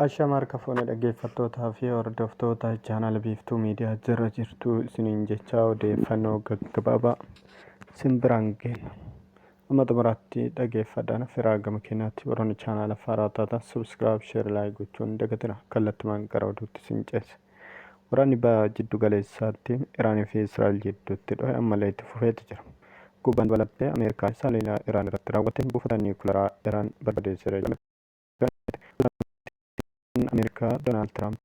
Ashama harka fuune dhaggeeffattootaa fi hordoftoota chaanal biiftuu miidiyaa jira jirtu isiniin jechaa odeeffannoo gaggabaabaa isin biraan geenna. Amma xumuraatti dhaggeeffadhaan firaa gama keenyaatti warroonni chaanala faaraa taatan subscribe, share, like gochuun dagatina kallattumaan gara oduutti isin ceessa. Waraanni Baha Jiddu Galeessaatti Iraanii fi Israa'el jidduutti dhohe ammallee itti fufeeti jira. Gubbaan dabalattee Ameerikaanis haleellaa Iraan irratti raawwateen buufata niwukilaraa Iraan barbadeesseera jedhame ganamte. Pirezidaantiin Ameerikaa Doonaald Tiraamp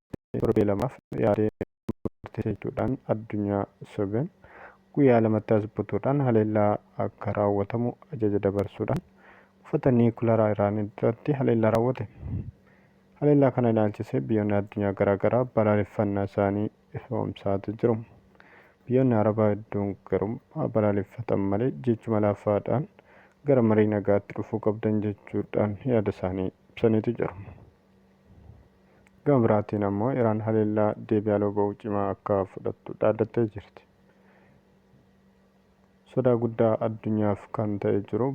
torbee lamaaf yaadee murteessa jechuudhaan addunyaa sobe. Guyyaa lamatti as butuudhaan haleellaa akka raawwatamu ajaja dabarsuudhaan buufata niwukilaraa Iraan irratti haleellaa raawwate. Haleellaa kana ilaalchisee biyyoonni addunyaa garaa garaa balaaleffannaa isaanii ifoomsaati jiru. Biyyoonni Arabaa hedduun garuu haa balaaleffatan malee jechuma laafaadhaan gara marii nagaatti dhufuu qabdan jechuudhaan yaada isaanii ibsaniitu jiru. Gama biraatiin ammoo Iraan haleellaa deebii aloo ba'uu cimaa akka fudhattu dhaadattee jirti. Sodaa guddaa addunyaaf kan ta'e jiru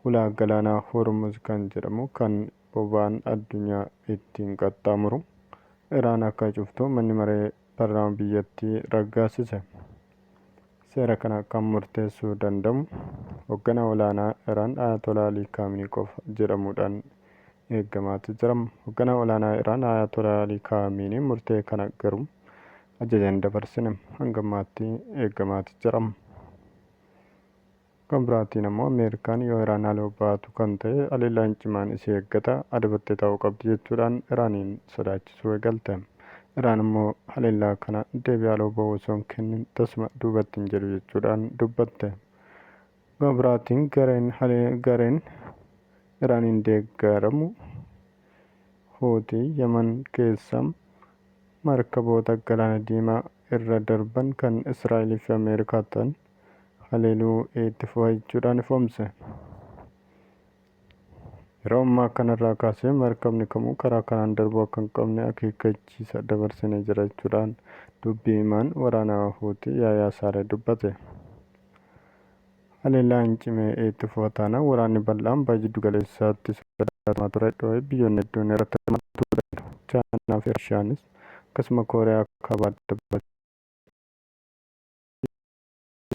Hulaa Galaanaa Hormuz kan jedhamu kan boba'aan addunyaa ittiin qaxxaamuru Iraan akka cuftu manni maree parlaama biyyattii raggaasise. Seera kana kan murteessuu danda'mu hogganaa olaanaa Iraan Ayatolaa Alii Kaaminii qofa jedhamuudhaan eeggamaati jira. Hogganaa olaanaa Iraan Ayatolaa Alii Kaaminii murtee kana garuu ajaja hin dabarsine. Hanga ammaatti eeggamaati jira. Gama biraatiin ammoo Ameerikaan yoo Iraan haleeuu baatu kan ta'e haleellaan cimaan isii eeggata, adabattee taa'uu qabdi jechuudhaan Iraaniin sodaachisuu eegalte. Iraan ammoo haleellaa kana deebii haaloo bahu osoo hin kennin tasuma duubatti hin jedhu jechuudhaan dubbatte. Gama biraatiin gareen gareen Iraaniin deeggaramu Huutii Yaman keessa markaboota Galaana Diimaa irra darban kan Israa'elii fi Ameerikaa ta'an haleeluu itti fufa jechuudhaan ifoomse. Yeroo ammaa kanarraa kaasee markabni kamuu karaa kanaan darbuu akka hin qabne akeekkachiisa dabarsine jira jechuudhaan dubbii himaan waraanaa Huutii Yaayaa Saaree dubbate. Haleellaan cimee itti fufa taanaan waraanni bal'aan baha jiddu galeessaatti sodaatamaa ture dhoo'ee biyyoonni hedduun irratti hirmaachuu danda'u. Chaayinaa fi Raashiyaanis akkasuma Kooriyaa kaabaa dabalatee.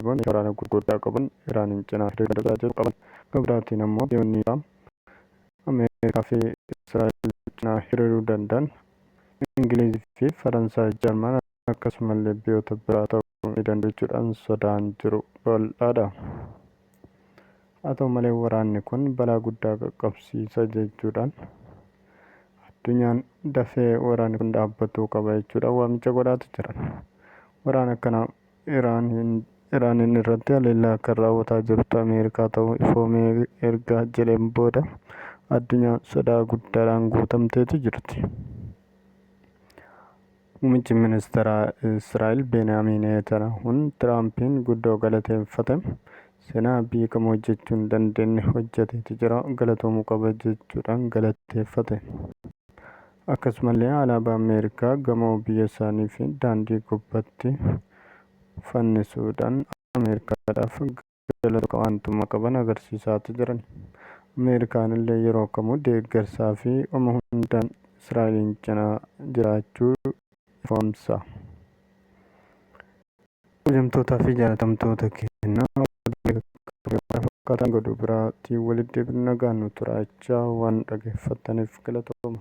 Iraan meeshaa waraanaa gurguddaa qaban Iraaniin cinaa hiriira irra jiraachuu qaban. Gama biraatiin ammoo biyyoonni Iraam Ameerikaa fi Israa'el cinaa hiriiruu danda'an Ingiliiz fi Faransaay, Jarman akkasumallee biyyoota biraa ta'uu ni danda'u jechuudhaan sodaan jiru bal'aadha. Haa ta'u malee waraanni kun balaa guddaa qaqqabsiisa jechuudhaan addunyaan dafee waraanni kun dhaabbatuu qaba jechuudhaan waamicha godhaatu jiran. Waraana kana Iraaniin Iraaniin irratti haleellaa kan raawwataa jirtu Ameerikaa ta'uu ifoomee erga jedheen booda addunyaan sodaa guddaadhaan guutamteeti jirti. Muummichi Ministeeraa Israa'el Beeniyaamin Neetanaahuun Tiraampiin guddoo galateeffate. Seenaa biyyi kamuu hojjechuu hin dandeenye hojjeteeti jira, galatoomuu qaba jechuudhaan galateeffate. Akkasumallee alaabaa Ameerikaa gamoo biyya isaanii fi daandii gubbatti fannisuudhaan Ameerikaadhaaf jala tokko aantummaa qaban agarsiisaati jiran. Ameerikaan illee yeroo kamuu deeggarsaa fi oma hundaan Israa'eliin cinaa jiraachuu ifoomsa. Kabajamtootaa fi jaalatamtoota keenna fakkaataan godhu biraatiin walitti deebinu nagaan nu turaa jechaa waan dhaggeeffattaniif galatooma.